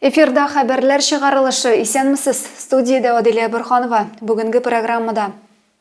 Эфирда хәбәрләр чыгарылышы исәнмесез. Студиядә Аделя Бөрханова. Бүгенге программада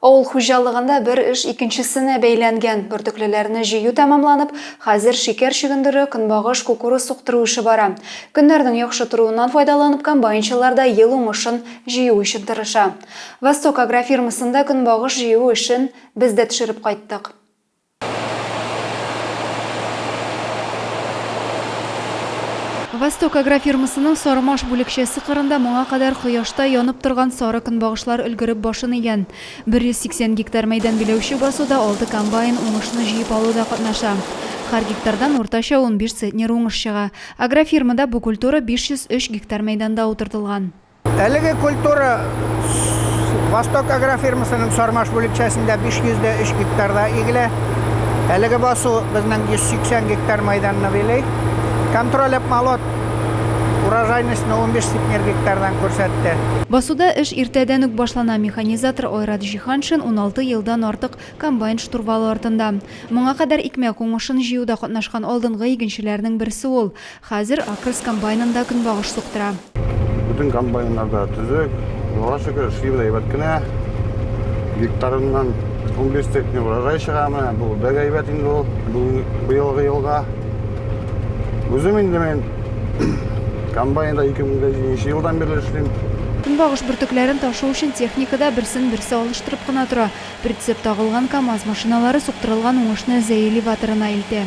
Авыл хуҗалыгында бер эш икенчесенә бәйләнгән. Бөртеклеләрне җыю тәмамланып, хәзер шикәр чөгендере, көнбагыш, кукуруз суктыру эше бара. Көннәрнең яхшы торуыннан файдаланып, комбайнчылар да ел уңышын җыю өчен тырыша. Восток агрофирмасында көнбагыш җыю эшен без дә төшереп кайттык. Восток агрофирмасының Сармаш бүлекчәсе кырында моңа кадәр кояшта янып торган сары көнбагышлар өлгереп башын игән. 180 гектар мәйдан биләүче басуда алты комбайн уңышны җыеп алуда катнаша. Хәр гектардан уртача унбиш центнер уңыш чыга. Агрофирмада бу культура 503 гектар мәйданда утыртылган. Әлеге культура Восток агрофирмасының Сармаш бүлекчәсендә 503 гектарда игелә. Әлеге басу безнең 180 гектар майданны билей. Контроль обмолот урожайность 15 центнер гектардан күрсәтте. Басуда эш иртәдән үк башлана. Механизатор Айрат Җиһаншин 16 елдан артык комбайн штурвалы артында. Моңа кадәр икмәк уңышын җыюда катнашкан алдынгы игенчеләрнең берсе ул. Хәзер Акрс комбайнында көнбагыш суктыра. Бөтен комбайннар да төзек, Аллага шөкер, эшли без әйбәт кенә. Гектарыннан унбиш центнер урожай чыга, менә бу бик әйбәт инде ул быелгы елга. Үзем инде мин комбайнда ике мең дә җиденче елдан бирле эшлим. Көнбагыш бөртекләрен ташу өчен техника да берсен-берсе алыштырып кына тора. Прицеп тагылган КАМАЗ машиналары суктырылган уңышны Зәели батырына илтә.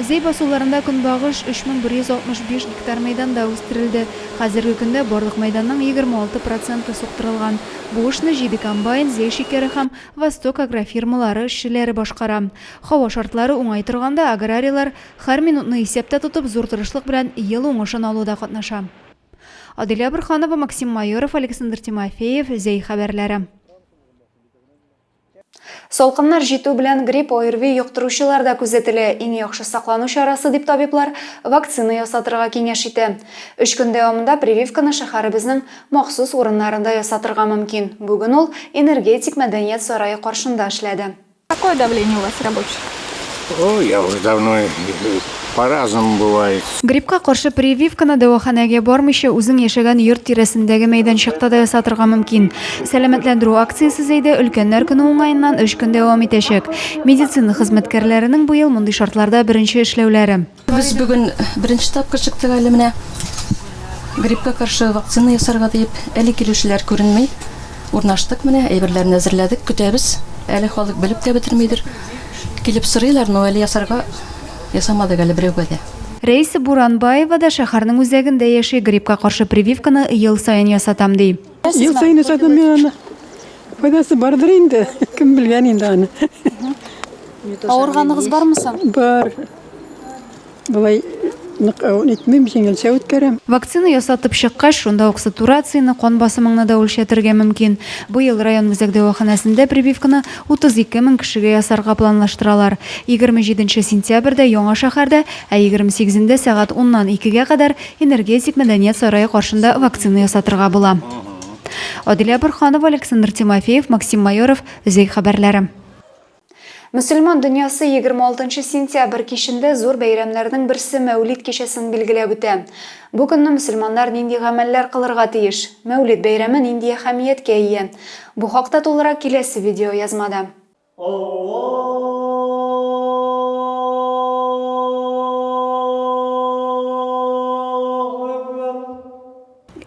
Зәй басуларында көнбагыш 3165 гектар мәйданда үстерелде. Хәзерге көндә барлык мәйданның 26 проценты суктырылган. Бу эшне Җиде комбайн, Зәй шикәре һәм Восток агрофирмалары эшчеләре башкара. Һава шартлары уңай торганда, аграрийлар, һәр минутны исәптә тотып, зур тырышлык белән ел уңышын алуда катнаша. Аделя Борһанова, Максим Майоров, Александр Тимофеев, Зәй хәбәрләре. Салкыннар җитү белән грипп, ОРВИ йоктыручылар да күзәтелә. Иң яхшы саклану чарасы дип табиблар вакцина ясатырга киңәш итә. Өч көн дәвамында прививканы шәһәребезнең махсус урыннарында ясатырга мөмкин. Бүген ул Энергетик мәдәният сарае каршында эшләде. Какое давление у вас рабочих? О, я уже давно по-разному бывает. Гриппка каршы прививканы дәваханәгә бармыйча үзең яшәгән йорт тирәсендәге мәйданчыкта да ясатырга мөмкин. Сәламәтләндерү акциясе Зәйдә өлкәннәр көне уңаеннан өч көн дәвам итәчәк. Медицина хезмәткәрләренең быел мондый шартларда беренче эшләүләре. Без бүген беренче тапкыр чыктык әле менә. Гриппка каршы вакцина ясарга диеп. Әле килүчеләр күренми. Урнаштык менә, әйберләрне әзерләдек, көтәбез. Әле халык белеп тә бетермидер. Килеп сорыйлар, но әле ясарга ясамадык әле берәүгә дә. Рәйсә Буранбаева да шәһәрнең үзәгендә яши, гриппка каршы прививканы ел саен ясатам, ди. Ел саен ясатам мин аны. Файдасы бардыр инде, кем белгән инде аны. Авырганыгыз бармы соң? Бар. Болай нык итмим, җиңелчә үткәрәм. Вакцина ясатып чыккач, шунда ук сатурацияне, кан басымыңны да үлчәтергә мөмкин. Быел район үзәк дәваханәсендә прививканы 32 мең кешегә ясарга планлаштыралар. Егерме җиденче сентябрьдә Яңа шәһәрдә, ә егерме сигезендә сәгать уннан икегә кадәр Энергетик мәдәният сарае каршында вакцина ясатырга була. Адилә Борһанова, Александр Тимофеев, Максим Майоров, Өзәй хәбәрләре. Мөселман дөньясы егерме алтынчы сентябрь кичендә зур бәйрәмнәрнең берсе Мәүлид кичәсен билгеләп үтә. Бу көнне мөселманнар нинди гамәлләр кылырга тиеш? Мәүлид бәйрәме нинди әһәмияткә ия? Бу хакта тулырак киләсе видеоязмада. Аллаһу әкбәр!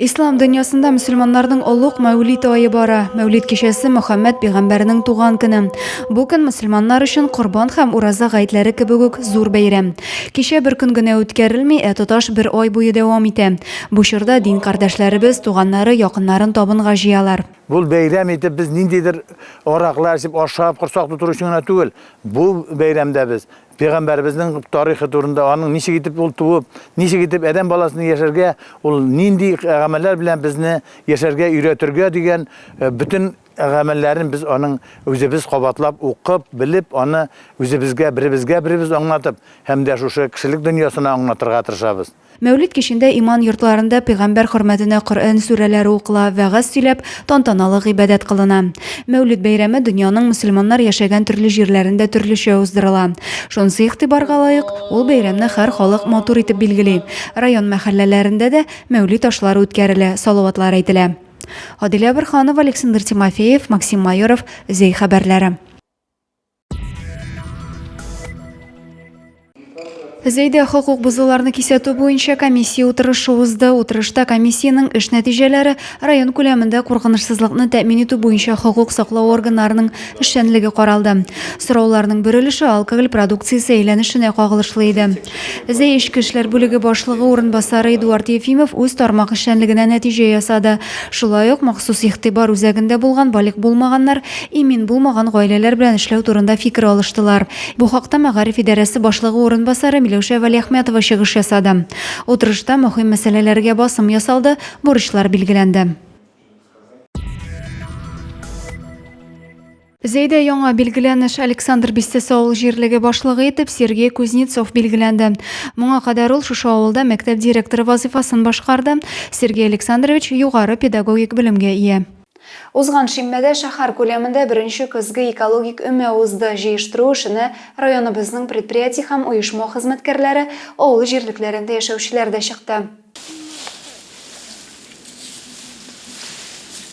Ислам дөньясында мөселманнарның олуг Мәүлид ае бара. Мәүлид кичәсе Мөхәммәд пигамбәрнең туган көне. Бу көн мөселманнар өчен Корбан һәм Ураза гайдләре кебек үк зур бәйрәм. Кичә бер көн генә үткәрелми, ә тоташ бер ай буе дәвам итә. Бу чорда дин кардәшләребез, туганнары, якыннарын табынга җыялар. Бу бәйрәм итеп без ниндидер араклар эчеп, ашап, корсак тутыру өчен генә түгел, бу бәйрәмдә без Пәйгамбәребезнең тарихы турында, аның ничек итеп ул туып, ничек итеп адәм баласына яшәргә, ул нинди гамәлләр белән безне яшәргә өйрәтергә дигән э, бөтен гамәлләрен без аның үзебез кабатлап укып, белеп, аны үзебезгә, беребезгә беребез аңлатып һәм дә шушы кешелек дөньясына аңлатырга тырышабыз. Мәүлид кичендә иман йортларында пәйгамбәр хөрмәтенә Коръән сүрәләре укыла, вәгазь сөйләп, тантаналы гыйбадәт кылына. Мәүлид бәйрәме дөньяның мөселманнар яшәгән төрле җирләрендә төрлечә уздырыла. Шунысы игътибарга лаек, ул бәйрәмне һәр халык матур итеп билгели. Район мәхәлләләрендә дә мәүлид ашлары үткәрелә, салаватлар әйтелә. Адилә Борһанова, Александр Тимофеев, Максим Майоров, Зәй хәбәрләре. Зәйдә хокук бозуларны кисәтү буенча комиссия утырышы узды. Утырышта комиссиянең эш нәтиҗәләре, район күләмендә куркынычсызлыкны тәэмин итү буенча хокук саклау органнарының эшчәнлеге каралды. Сорауларның бер өлеше алкоголь продукциясе әйләнешенә кагылышлы иде. Зәй эчке эшләр бүлеге башлыгы урынбасары Эдуард Ефимов үз тармак эшчәнлегенә нәтиҗә ясады. Шулай ук махсус игътибар үзәгендә булган балигъ булмаганнар, имин булмаган гаиләләр белән эшләү турында фикер алыштылар. Бу хакта мәгариф идарәсе башлыгы урынбасары Миләүшә Вәлиәхмәтова чыгыш ясады. Утырышта мөһим мәсьәләләргә басым ясалды, бурычлар билгеләнде. Зәйдә яңа билгеләнеш Александр бистәсе авыл җирлеге башлыгы итеп Сергей Кузнецов билгеләнде. Моңа кадәр ул шушы авылда мәктәп директоры вазыйфасын башкарды. Сергей Александрович югары педагогик белемгә ия. Узган шимбәдә шәһәр күләмендә беренче көзге экологик өмә узды, җыештыру эшенә районыбызның предприятие һәм оешма хезмәткәрләре, авыл җирлекләрендә яшәүчеләр дә чыкты.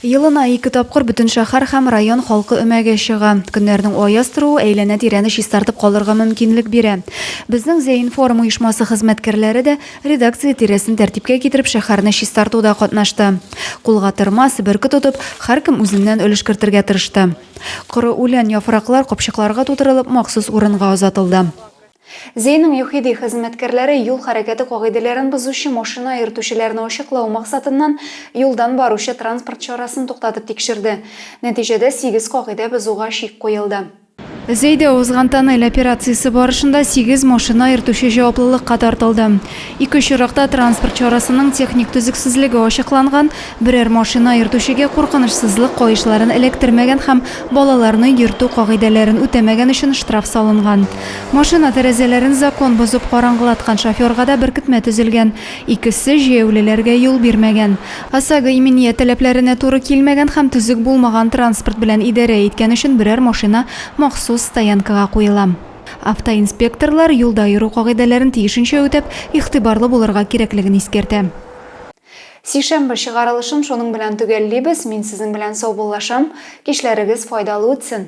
Елына ике тапкыр бөтен шәһәр һәм район халкы өмәгә чыга. Көннәрнең аяз торуы әйләнә-тирәне чистартып калырга мөмкинлек бирә. Безнең Зәинформ оешмасы хезмәткәрләре дә, редакция тирәсен тәртипкә китереп, шәһәрне чистартуда катнашты. Кулга тырмас, бөрке тотып, һәркем үзеннән өлеш кертергә тырышты. Коры үлән, яфраклар капчыкларга тутырылып, махсус урынга озатылды. Зейнең ЮХИДИ хезмәткәрләре юл хәрәкәте кагыйдәләрен бозучы машина йөртүчеләрне ачыклау максатыннан юлдан баручы транспорт чарасын туктатып тикшерде. Нәтиҗәдә сигез кагыйдә бозуга чик куелды. Зейдә узган тоннель операциясе барышында сигез машина йөртүче җаваплылыкка тартылды. Ике очракта транспорт чарасының техник төзексезлеге ачыкланган, берәр машина йөртүчегә куркынычсызлык каешларын эләктермәгән һәм балаларны йөртү кагыйдәләрен үтәмәгән өчен штраф салынган. Машина тәрәзәләрен закон бозып караңгылаткан шоферга да беркетмә төзелгән. Икесе җәяүлеләргә юл бирмәгән. ОСАГО иминият таләпләренә туры килмәгән һәм төзек булмаган транспорт белән идарә иткән өчен берәр машина махсус стоянкага куела. Автоинспекторлар, юлда йөрү кагыйдәләрен тиешенчә үтәп, игътибарлы булырга кирәклеген искәртә. Сишәмбе чыгарылышын шуның белән төгәллибез. Мин сезнең белән саубуллашам. Кичләрегез файдалы үтсен!